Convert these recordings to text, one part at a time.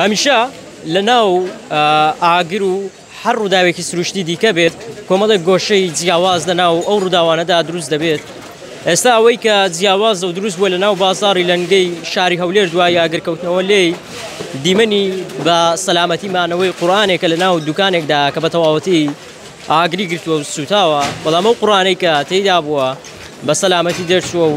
هەمیشە لە ناو ئاگر و هەر ڕووداوێکی سروشتی دیکە بێت کۆمەڵێک گۆشەی جیاواز لە ناو ئەو ڕووداوانەدا دروست دەبێت ئێستا ئەوەی کە جیاواز و دروست بووە لە ناو بازاری لەنگەی شاری هەولێر دوای یاگرکەوتنەوە لێی دیمەنی بە سەلامەتی مانەوەی قورآانێکە لە ناو دوکانێکدا کە بە تەواوەتی ئاگری گرتووە و سوتاوە بەڵام ئەو قڕانەی کە تێدا بووە بە سەلامەتی دەرچووە و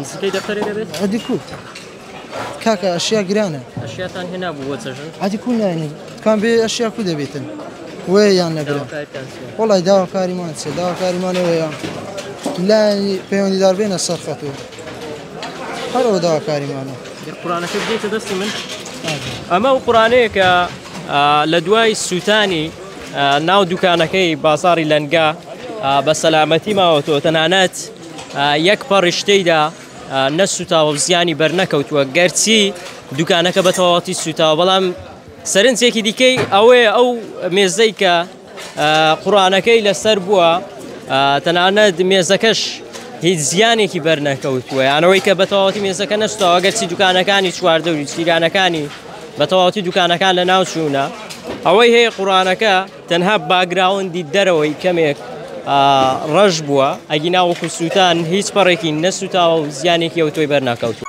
نسکەی دەفتەرێ دەبێت ئەدی کو کاکە ئەشیا گرانە ئەشیاتان هێنا بوو بۆ چەژن ئەدی کو نانی کام بێ ئەشیا کو دەبێتن وێ یان نەگرن داواکاریتان چییە؟ وڵی داواکاریمان چێ داواکاریمانەوەیە لانی پەیوەندیدار بێنە سەر خەتو هەرەوە داواکاریمانە گەر قورانەکە بدەیتە دەستی من ئەمە و قورانەیە کە آ، لە دوای سووتانی آ، ناو دوکانەکەی بازاری لەنگا آ، بە سەلامەتی ماوەتەوە تەنانەت یەک پەڕیش تێیدا نەسووتاوە و زیانی بەرنەکەوتووە، گەرچی دوکانەکە بە تەواوەتی سووتاوە، بەڵام سەرنجێکی دیکەی ئەوەیە ئەو مێزەی کە قورئانەکەی لەسەر بووە، تەنانەت مێزەکەش هیچ زیانێکی بەرنەکەوتووە، یان ئەوەی کە بە تەواوەتی مێزەکە نەسووتاوە، گەرچی دوکانەکانی چواردەوری و جیرانەکانی بە تەواوەتی دوکانەکان لەناوچوونە. ئەوەی هەیە قورئانەکە، تەنها باگراوندی دەرەوەی کەمێک ڕەش بووە ئەگینا وەکو سووتان هیچ پەڕێکی نەسووتاوە و زیانێکی ئەو تۆی بەرناکەوتو